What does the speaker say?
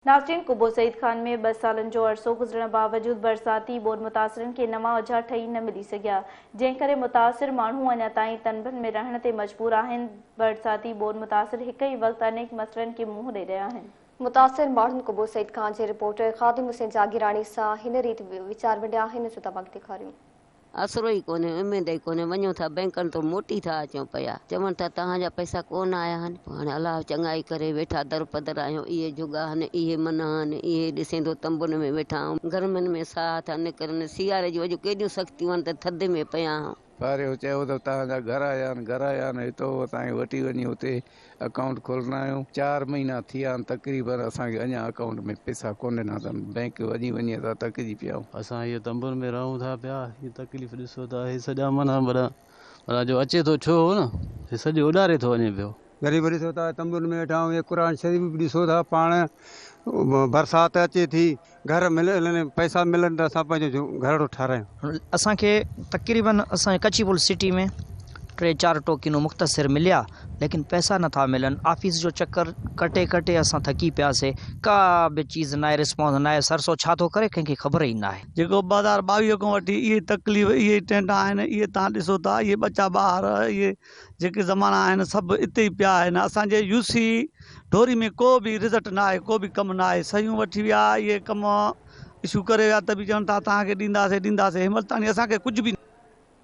ناسرين قبو سعيد خان ۾ ٻه سالن جو عرصو گذرڻ باوجود برساتي ٻوڏ متاثرن کي نوان اجها ٺهي نه ملي سگهيا، جنهن ڪري متاثر ماڻهو اڃا تائين تنبن ۾ رهڻ تي مجبور آهن، برساتي ٻوڏ متاثر هڪ ئي وقت انيڪ مسئلن کي منهن ڏئي رهيا آهن. متاثر ماڻهن قبو سعيد خان جي رپورٽر خادم حسين جاگيراڻي سان هن ريت ويچار ونڊيا آهن، سو تماڪ ڏيکاريون. آسرو ئي ڪونهي، اميد ئي ڪونهي، وڃون ٿا بئنڪن تون موٽي ٿا اچون پيا، چون ٿا توهان جا پئسا ڪو نه آيا آهن، پوء هاڻي الله چڱائي ڪري ويٺا درپدر آهيون، اهي جهڳا آهن، اهي منها آهن، اهي ڏسيندو تنبن ۾ ويٺا آهيون، گرمين ۾ ساهه ٿا نڪرن، سياري جون اڄ ڪيڏيون سختيون آهن ته ٿڌ ۾ پيا آهيون. ساريو چيو ته توهان جا گهر آيا آهن، گهر آيا آهن، هتو هتائين وٺي وڃي اتي. اڪائونٽ کولڻ آيو چار مهينا ٿي ويا آهن تقريبن اسان کي اڃان اڪائونٽ ۾ پئسا ڪونه ڏنا اٿن بئنڪ وڃي وڃي اسان ٿڪجي پيا آهيون. اسان هيء تنبن ۾ رهون ٿا پيا هي تڪليف ڏسو ته هي سڄا من هنڀڙا ڀلا جو اچي ٿو ڇو هو نه هي سڄو اڏاري ٿو وڃي پيو. غريب ڏسو ته تنبن ۾ ويٺا آهيون هي قرآن شريف به ڏسو ٿا پاڻ برسات اچي ٿي گهر ملن ۽ پئسا ملن ته اسان پنهنجو گهرڙو ٺارايون. اسان کي تقريبن اسان جي ڪچي پل سٽي ۾ ٽي چار ٽوڪينو مختصر مليا ليڪن پئسا نه ٿا ملن آفيس جو چڪر ڪٽي ڪٽي اسان ٿڪي پيا سي ڪا به چيز ناهي رسپانس ناهي سرسو ڇا ٿو ڪري ڪنهن کي خبر ئي ناهي. جيڪو ٻه هزار ٻاويهه کان وٺي اهي تڪليف اهي ٽينڊا آهن اهي تهان ڏسو ٿا اهي ٻچا ٻاهر اهي جيڪي زمانا آهن سڀ اتي ئي پيا آهن اسان جي يو سي ڍوري ۾ ڪو به رزٽ نه آهي ڪو به ڪم نه آهي سهيون وٺي ويا اهي ڪم اشو ڪري ويا ته به چون ٿا تهان کي ڏينداسي ڏينداسي هن وقت تائين اسان کي ڪجهه به